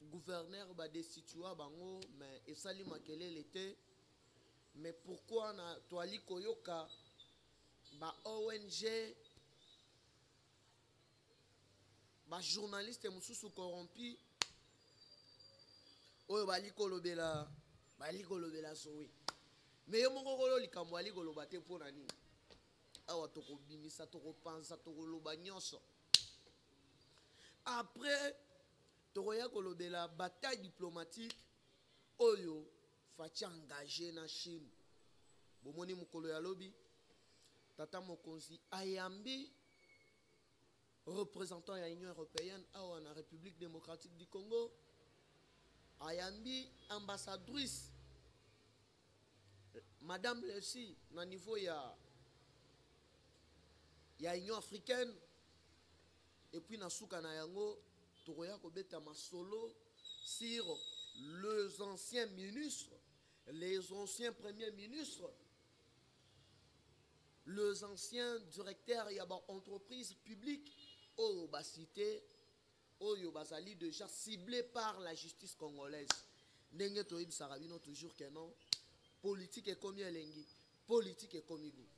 Gouverneur ba destitua bango mais esali makelele te mais pourquoi na toali koyoka ba ONG ba journaliste mosusu corrompu oyo bali kolobela bali kolobela zoe mais yo moko kolo likambo ali koloba te mpo na nini awa tokobimisa tokopanza tokoloba nyonso après Tokoya kolobela bataille diplomatique oyo Fatshi engage na Chine. Bomoni mokolo ya lobi tata mokonzi ayambi représentant ya Union européenne awa na République démocratique du Congo ayambi ambassadrice madame Lesi na niveau ya ya Union africaine Et puis na suka na yango tokoya kobeta masolo sur les anciens ministres, les anciens premiers ministres, les anciens directeurs ya ba entreprises publiques oyo ba cité oyo bazali déjà ciblés par la justice congolaise. Ndenge toyebisaka bino toujours que non politique ekomi elengi, politique ekomi gout.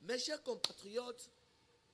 Mes chers compatriotes,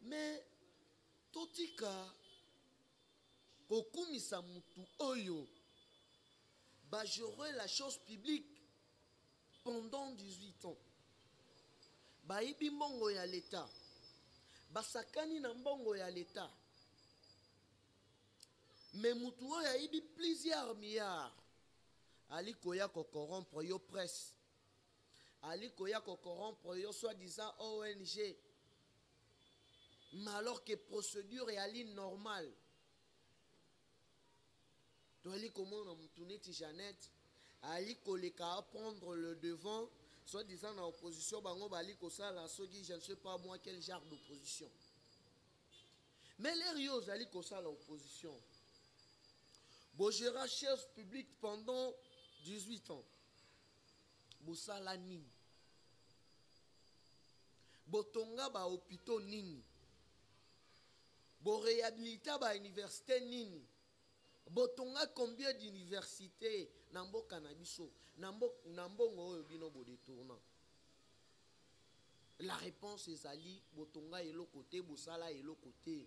mais totika kokumisa mutu oyo bagerer la chose publique pendant 18 ans bayibi mbongo ya leta basakani na mbongo ya leta me mutu oyo ayibi plusieurs milliards ali koya kokorompre yo presse ali koya ko corrompre yo soit disant ong mais alors que procédure eyali normale toyali komona motu neti jeannette ali koleka aprendre le devant soit disant na opposition bango bali kosala soki je ne sais pas moi quel genre d'opposition mais lere yo ozali kosala opposition bogera chaise publique pendant 18 ans bosala nini botonga bahopitaux nini borehabilita bauniversité nini botonga combien d'université na mboka na biso na, mbo, na mbongo oyo bino bodetourna la réponse ezali botonga eloko te bosala eloko te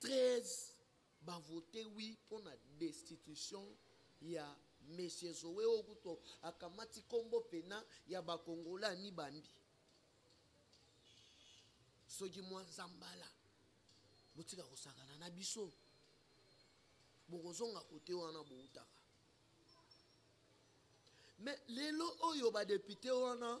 13 ba vote oui mpo na destitution ya monsieur zoe oyo kutu akamati nkombo pena ya bakongola amibambi soki mwa nzambala botika kosakana na biso bokozonga kote wana boutaka me lelo oyo badepute wana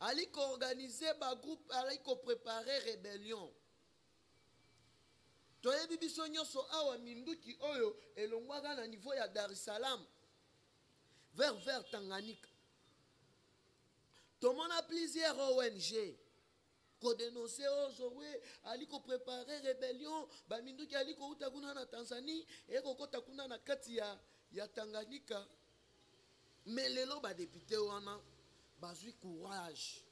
ali koorganize bagroupe ali koprepare rebellion toyebi biso nyonso awa minduki oyo elongwaka na niveau ya dar es salaam vers vers tanganyika tomona plusieurs ong kodenonse oyo oh, zoe ali koprepare rebellion baminduki ali kouta kuna na tanzanie ekokɔta kuna na kati ya, ya tanganyika me lelo badepute wana bazwi courage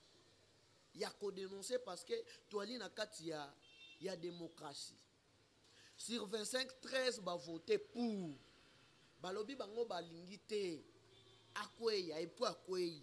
ya kodenonse parce que toali na kati ya, ya démocratie sur 25 13 bavote pour balobi bango balingi te akweya epuis akwei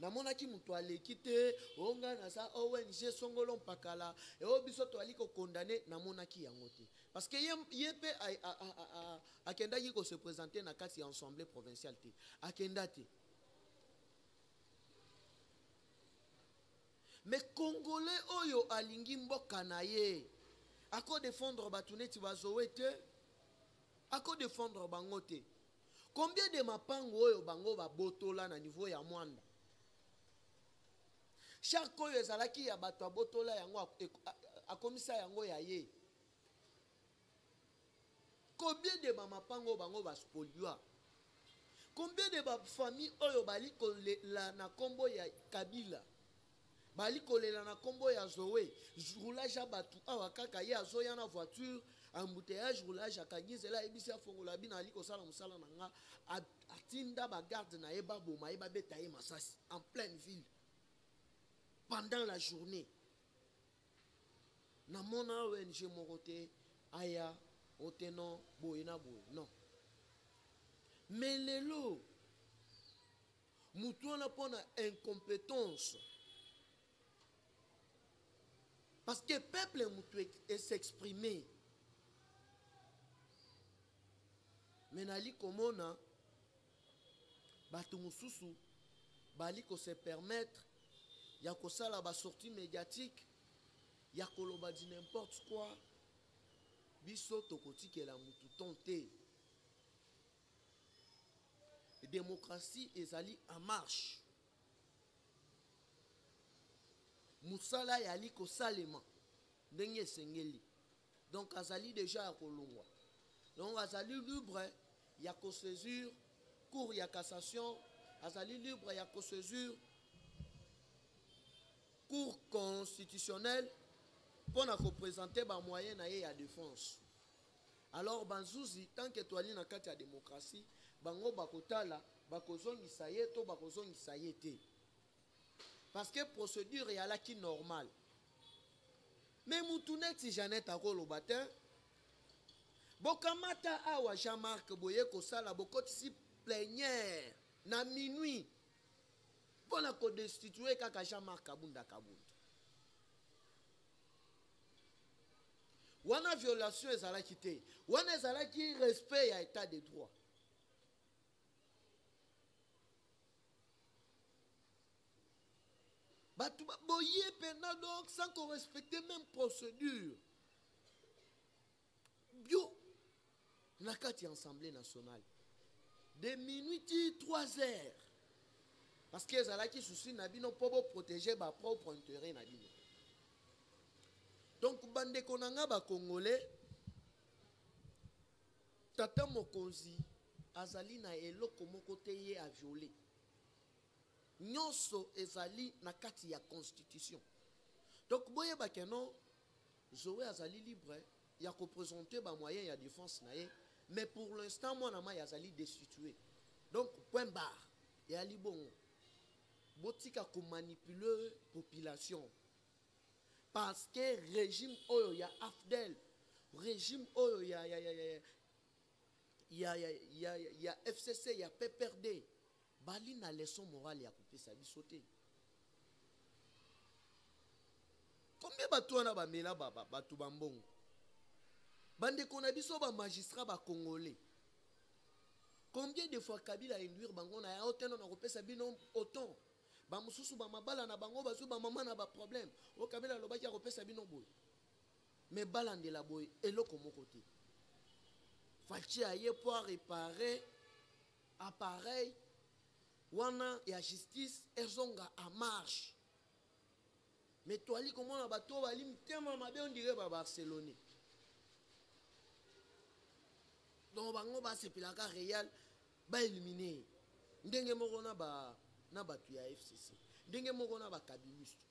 namonaki moto aleki te o oh, ngai naza ong oh, songolo mpakala eo eh, oh, biso toyali kokondane namonaki yango te parce que ye, ye mpe akendaki kose présente na kati ya assemblée provinciale te akenda te mais congolais oyo alingi mboka na ye akodefendre bato neti bazowe te akodefendre bango te Combien de mapango oyo bango babotola na niveau ya Mwanda? Shark oyo ezalaki ya bato abotola yango akomisa yango ya ye. Combien de bamapango bango baspoliwa? Combien de bafamille oyo bali kolela na kombo ya Kabila? bali kolela na kombo ya zoe roulage ya bato awa kaka ye azoya na voiture embouteillage roulage akangi nzela ayebisi afongola bino ali kosala mosala na nga atinda bagarde na ye baboma ye babeta ye masasi en pleine ville pendant la journée namona ong moko te aya oteno boye na boye non mais lelo mutu wana mpo na incompétence parce que peuple mutu esexprime me nali komona bato mosusu bali kose permettre ya kosala basortie médiatique ya koloba di n'importe quoi biso tokotikela mutu ton te démocratie ezali en marche mosala yali kosalema ndenge esengeli donc azali deja ya kolongwa donc azali libre ya kosaisir cour ya cassation azali libre ya kosaisir cour constitutionnelle mpo na kopresente bamoyen na ye ya défense Alors bazuzi tant que toali na kati ya democratie bango bakotala bakozongisa ye to bakozongisa ye te parce que procédure eyalaki normale mais mutu neti Jeannette akoloba te bokamata awa Jean-Marc boye kosala bokotisi plenière na minuit mpo na kodestitue kaka Jean-Marc Kabunda Kabunda wana violation ezalaki te wana ezalaki respect ya état de droit bato baboye mpena donc sans korespecte même procédure bio na kati ya assemblée nationale de minuit ti 3 heures parce que ezalaki souci na bino mpo boprotege bapropre intérêt na bino donc bandeko na ngai bacongolais tata mokonzi azali na eloko moko te ye aviole nyonso ezali na kati ya constitution donc boyeba keno Zoe azali libre ya ko presenter ba moyens ya defense na ye mais pour l'instant mwana mayi azali destitue donc point barre eyali bongo botika komanipuler population parce que régime oyo ya afdel régime oyo ya, ya, ya, ya, ya, ya, ya, ya fcc ya pprd bali na leçon morale ya kopesa biso te combien bato wana bamela bato bambongo bandeko na biso bamagistrat bacongolais combien de fois kabila induire bango na ya oteno na kopesa bino oton bamosusu bamabala na bango bazwi bamama na baproblème oyo kabila alobaki akopesa bino boye mais balandela boye eloko moko te faci aye mpo arepare appareil wana ya justice ezonga a marche me toali komona bato oyo bali mitema mabe ondire babarcelonais donc bango basepelaka real baelimine ye ndenge moko na bato ya fcc ndenge moko na bakabiliste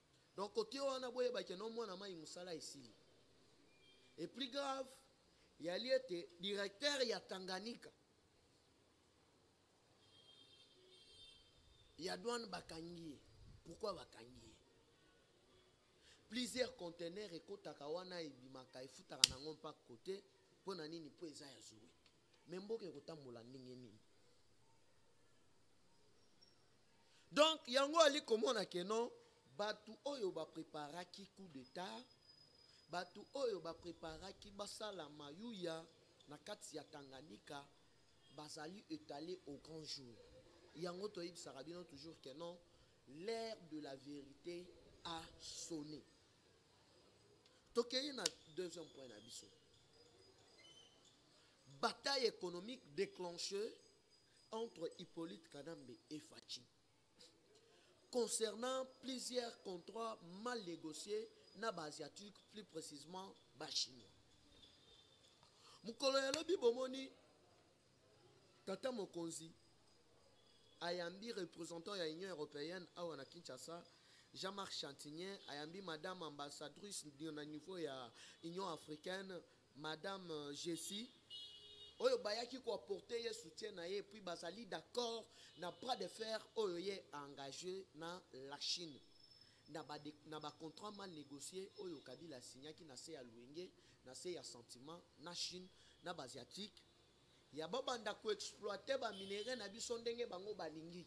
donc kote wana boyeba ke no mwana mai mosala esili et plus grave yali ete directeur ya tanganyika ya douane bakangi ye pourquoi bakangi ye plusieurs conteneur ekotaka wana ebimaka efutaka nango mpa kote mpo na nini mpo eza ya zoe me mboka ekotambola ndenge nini donc yango ali komona ke non bato oyo bapreparaki coup d'etat bato oyo bapreparaki basala mayuya na kati ya tanganyika bazali etale au grand jour yango toyebisaka bino toujours ke non l'ère de la vérité a sonné tokei na deuxième point na biso bataille économique déclenchée entre Hippolyte Kanambe et Fatshi concernant plusieurs contrats mal négociés na ba asiatiques plus précisément ba chinois mokolo ya lobi bomoni tata mokonzi ayambi représentant ya union européenne awa na kinshasa jean-marc chantinien ayambi madame ambassadrice na niveau ya union africaine Madame Jessie, oyo bayaki ko apporter ye soutien na ye puis bazali d'accord na bras de fer oyo ye a engage na la Chine na ba, na ba contrat mal négocier oyo Kabila asignaki na se ya luenge na se ya sentiment na Chine na ba asiatique ya babanda ko exploiter ba minerais na biso ndenge bango balingi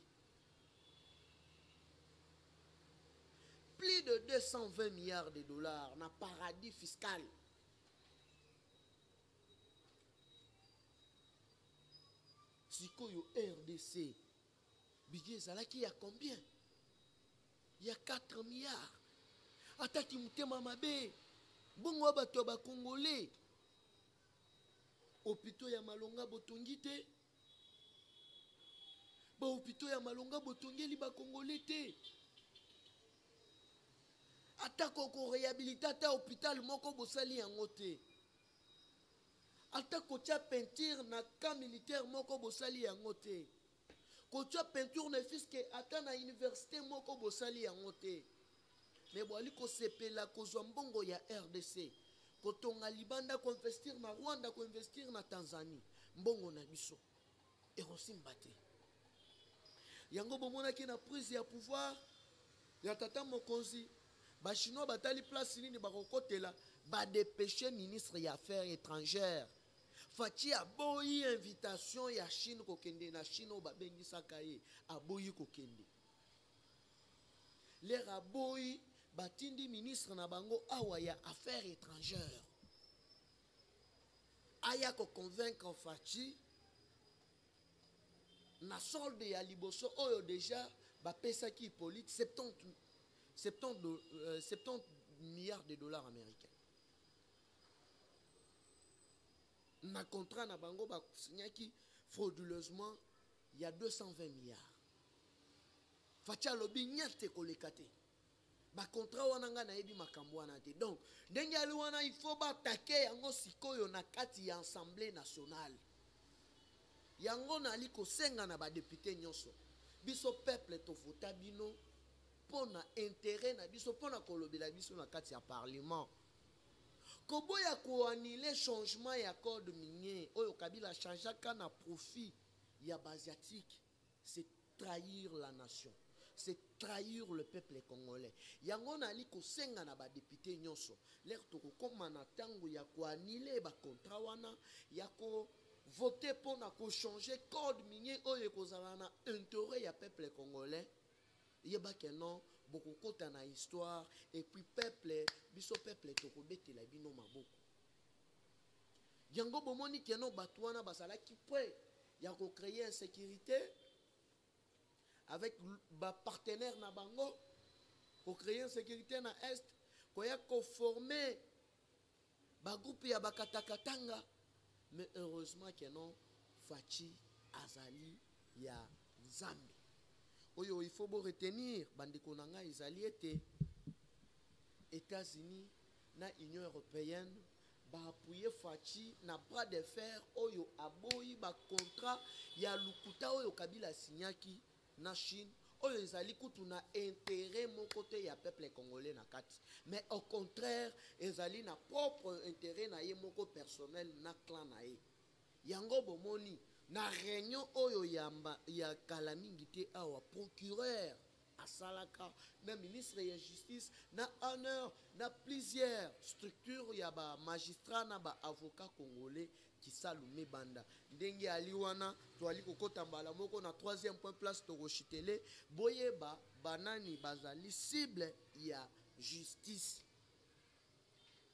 plus de 220 milliards de dollars na paradis fiscal sikoyo rdc bidye ezalaki ya combien ya 4 milliard ataki motema mabe bongo ya bato ya bakongole hopitau ya malonga botongi te bahopito ya malonga botongeli bakongole te atako korehabilite ata hôpital moko bosali yango te ata kotya peinture na camp militaire moko bosali yango te kotya peinture ne fiske ata na université moko bosali yango te mais boali kosepela kozwa mbongo ya rdc kotonga libanda koinvestir na rwanda koinvestir na tanzanie mbongo na biso ekosimba te yango bomonaki na prise ya pouvoir ya tata mokonzi bachinois batali place nini bakokotela badepeshe ministre ya affaires étrangères faci aboyi invitation ya chine kokende na chine oyo babengisaka ye aboyi kokende lere aboyi batindi ministre na bango awa ya affaire étrangère aya koconvaincre faci na solde ya liboso oyo déjà bapesaki hippolyte 70, 70, do, euh, 70 milliards de dollars américains na contrat na bango basignaki frauduleusement ya 220 milliards faci alobi nyate ekoleka te bacontra wana ngai nayebi makambo wana te donc ndenge ali wana il faut batake yango sikoyo na kati ya assemblée nationale yango nali kosenga na badepute nyonso biso peuple tovota bino mpo na intérêt na biso mpo na kolobela biso na kati ya parlement koboya koanile changement ya code minier oyo kabila achangeaka na profit ya baasiatique c'est trahir la nation c'est trahir le peuple congolais yango nali kosenga na badepute nyonso lere tokokoma na ntango ya koanile bacontra wana ya kovote mpo na kochange code minier oyo ekozala na interet ya peuple congolais yebake non bokokota na histoire epuis peuple biso peuple tokobetela bino maboko Yango bomoni que non batu wana bazalaki près ya ko creer insecurite avec ba partenaires na bango ko creer insecurite na est koya ko former ba groupe ya bakatakatanga mais heureusement que non Fatshi azali ya Nzambe oyo il faut bo retenir bandeko na ngai ezali ete États-Unis na Union européenne ba appuyer Fatshi na bras de fer oyo aboyi ba contrat ya lukuta oyo Kabila signaki na Chine oyo ezali kutu na intérêt moko te ya peuple congolais na kati mais au contraire ezali na propre intérêt na ye moko personnel na clan na ye yango bomoni na réunion oyo yamba ya kala mingi te awa procureur asalaka na ministre ya justice na honneur na plusieurs structure ya ba magistrat na ba avocat congolais kisalu mibanda ndenge ali wana toali kokota mbala moko na troisième point place tokoshitele boyeba banani bazali cible ya justice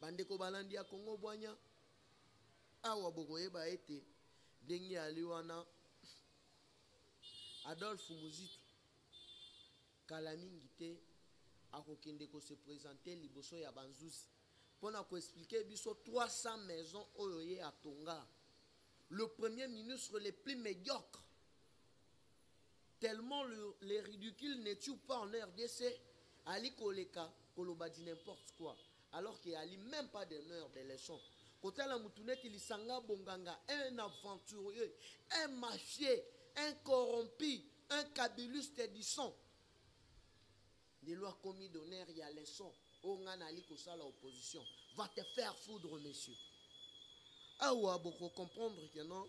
bandeko balandi ya kongo bwanya awa bokoyeba ete ndenge ali wana adolphe muzitu kala mingi te akokende ko se presenter liboso ya ba nzuzi mpo na ko expliquer biso 300 maisons oyo ye atonga le premier ministre le plus médiocre tellement le, les ridicules ne tuent pas en rdc ali koleka koloba di n'importe quoi alors que ali même pas d'honneur de leçon kotala motu neti lisanga bonganga un aventurieux un mafie un corrompu un kabiluste du son ndelo akomi donner ya leçon oyo ngai naali kosala opposition va te faire foudre monsieur awa bokocomprendre ke non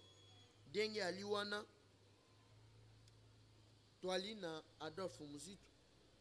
ndenge ali wana toali na adolphe muzitu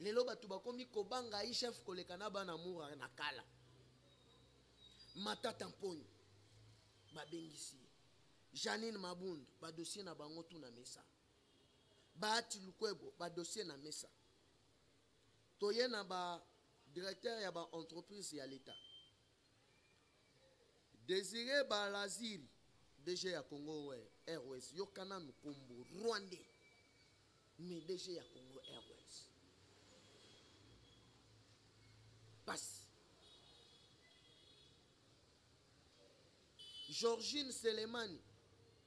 lelo bato bakomi kobanga aichef koleka na bana mura na kala matata mponi babengisi ye janine mabundu badosie na bango tu na mesa baati lukwebo badosie na mesa toye na ba directeur ya ba entreprise ya leta Desire Balaziri, DG ya Congo Airways, yoka nanu kombo Rwandais, mais DG ya Congo Airways. Pasi. Georgine Selemani,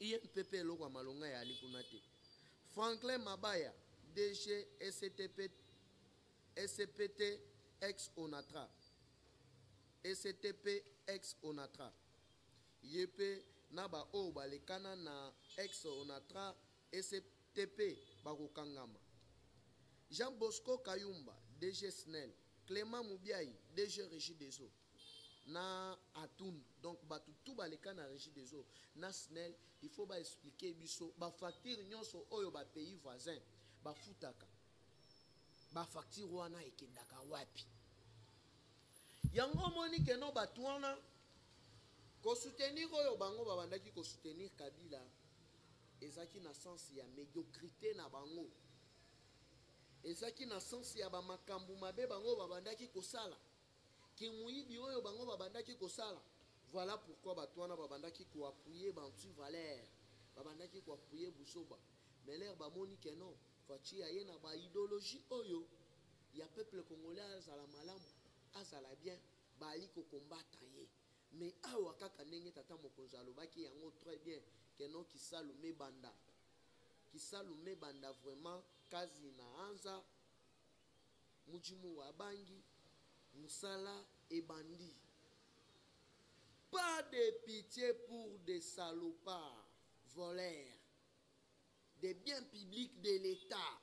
INPP eloko ya malonga eyali kuna te. Franklin Mabaya, DG SCTP, SCPT ex Onatra. SCTP ex Onatra. Ye mpe na baoyo balekana na ex Onatra SCTP bakokangama. Jean Bosco Kayumba, DG SNEL. Clement Mubiayi, DG Regie des Eaux. na atun donc bato tu baleka na régie des eaux na snel il faut baexplike biso bafacture nyonso oyo bapays voisin bafutaka bafacture wana ekendaka wapi yango omoni keno bato wana kosoutenir oyo bango babandaki kosoutenir kabila ezalaki na sense ya médiocrité na bango ezalaki na sense ya bamakambo mabe bango babandaki kosala Kimoyibi oyo bango babandaki kosala. Voilà pourquoi batu wana babandaki ko appuyer ba anti valeur. Babandaki ko appuyer buzoba. Mais leurs bamoni que non, Fatshi aye na ba ideologie oyo ya peuple congolais azala malamu, azala bien, baali ko combattre ye. Mais awa kaka ndenge tata mokonzi alobaki yango très bien que non Kisalu mebanda. Kisalu mebanda vraiment Kazi na Anza. Mujimura abangi musala ebandi. Pas de pitie pour de salopards voleurs de biens publics de l'etat.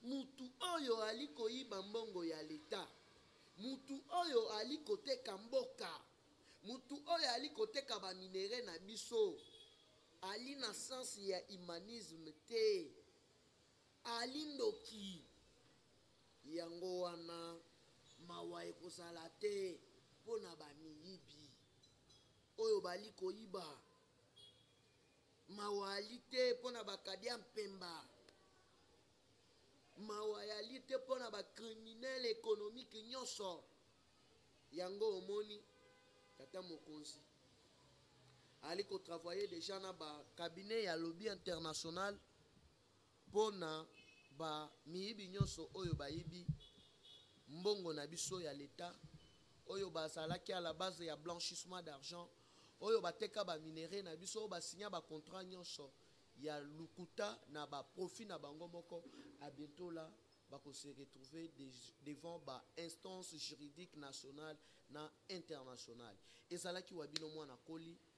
Mutu oyo ali koyiba mbongo ya l'etat, mutu oyo ali koteka mboka, mutu oyo ali koteka ba minerais na biso ali na sens ya humanisme te. Ali ndoki yango wana mawa ekozala te pona ba miyibi oyo bali koyiba mawa ali te pona ba kadia mpemba mawa yali te pona ba criminel economique nyonso yango omoni tata mokonzi ali kotravaille deja na ba cabinet ya lobby international pona ba miyibi nyonso oyo bayibi mbongo na biso ya l'etat oyo bazalaki à la base ya blanchissement d'argent oyo bateka ba minerais na biso oyo basinya ba contrat nyonso ya lukuta na ba profit na bango moko à bientôt là bako se retrouver de, devant ba instance juridique nationale na internationale ezalaki wa bino mwana koli